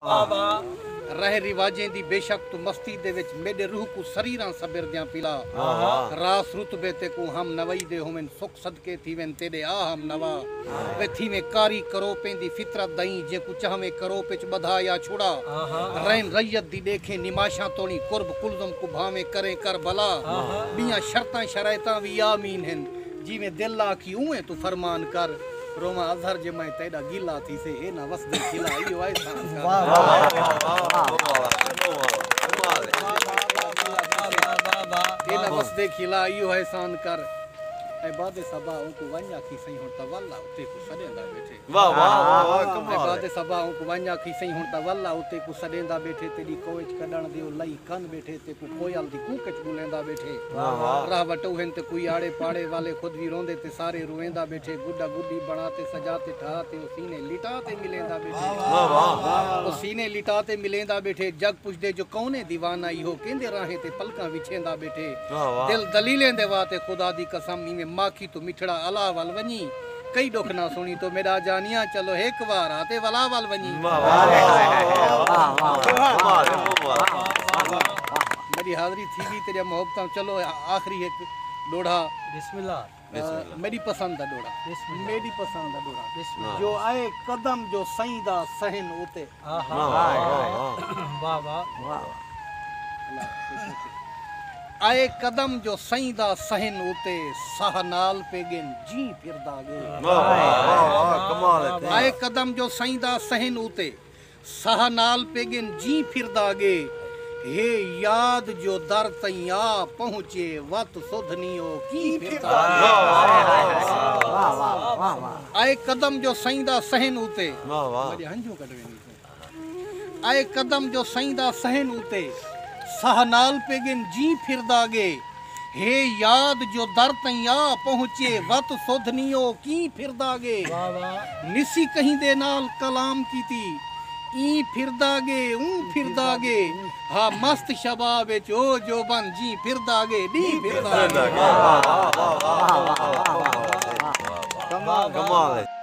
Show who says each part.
Speaker 1: آوا رہ رواجیں دی بے شک توں مستی دے وچ میڈے روح کوں سریراں سبر دیاں پلا آوا راس رتبے تے کوں ہم نوائی دے ہوون سکھ صدقے تھیون تیڈے آ ہم نوا وے تھیون کاری کروپیں دی فطرت دئیں جیں کوں چاہویں کروپ وچ بدھا یا چھڑا رین ریت دی ڈیکھیں نماشاں توڑیں قرب کلزم کوں بھاویں کریں کربلا بیاں شرطاں شرائطاں وی آمین ہن جیویں دل آکھی اونویں توں فرمان کر روواں اظہر جے میں تیڈا گیلا تھیسے اے نہ وسدے قلعہ ایہو احسان کر واہ واہ اے نہ وسدے قلعہ ایہو احسان کر اے باد صبا اونکوں ونج آکھی سئیں ہن تولا اتے کوں سڈیندا بیٹھے واہ واہ واہ واہ
Speaker 2: کمال ہے۔ باد صبا اوں کوں ونج
Speaker 1: آکھی سئیں ہن تاں ول آ او تیکوں سڈیندا بیٹھے تیڈی کوئچ کڈن دیو لئی کن بیٹھے تیکوں کوئل دی کوک اچ بلیندا بیٹھے واہ واہ راہ وٹو ہن تے کوئی آڑے پاڑے والے خود وی روندے تے سارے رویندا بیٹھے گڈا گڈی بنا تے سجا تے ٹھا تے او سینے لٹا تے ملیندا بیٹھے واہ واہ او سینے لٹا تے ملیندا بیٹھے جگ پچھدے جو کون ہے دیوانہ ایہو کیندے راہیں تے پلکاں وچھیندا بیٹھے واہ واہ دل دلیلیں دے وا تے خدا دی قسم ایویں ماکھی توں مٹھڑا الہ ول ونجی کئی ڈکھ نہ سنڑی تو میڈا جانیاں چلو ہک وار آتے ولا ول ونجی میڈی حاضری تھی گی تیڈیا محبتاں چلو آخری ہک ڈوڑھا میڈی پسند دا ڈوڑھا جو اے قدم جو سئیں دا سہن اتے اے قدم جو سئیں دا سہن اتے ساہ نال پے گن جی پھردا گے
Speaker 2: اے قدم جو سئیں
Speaker 1: دا سہن اتے ساہ نال پے گن جی پھردا گے ہے یاد جو در تئیں آ پہنچے وت سدھ نی او کی پھردا گے اے قدم جو سئیں دا صحن اتے۔ واہ واہ۔ وڈے ہنجوں کڈ ویندی سئیں۔ اے قدم جو سئیں دا صحن اتے۔ ساہ نال پے گن جی پھردا گے۔ ہے یاد جو در تئیں آ پہنچے۔ وت سدھ نی او کیں پھردا گے۔ واہ واہ۔ نسی کہیں دے نال کلام کیتی۔ ایں پھردا گے اوں پھردا گے۔ ہا مست شباب اچ او جوبن جیں پھردا گے ڈینہہ پھردا گے۔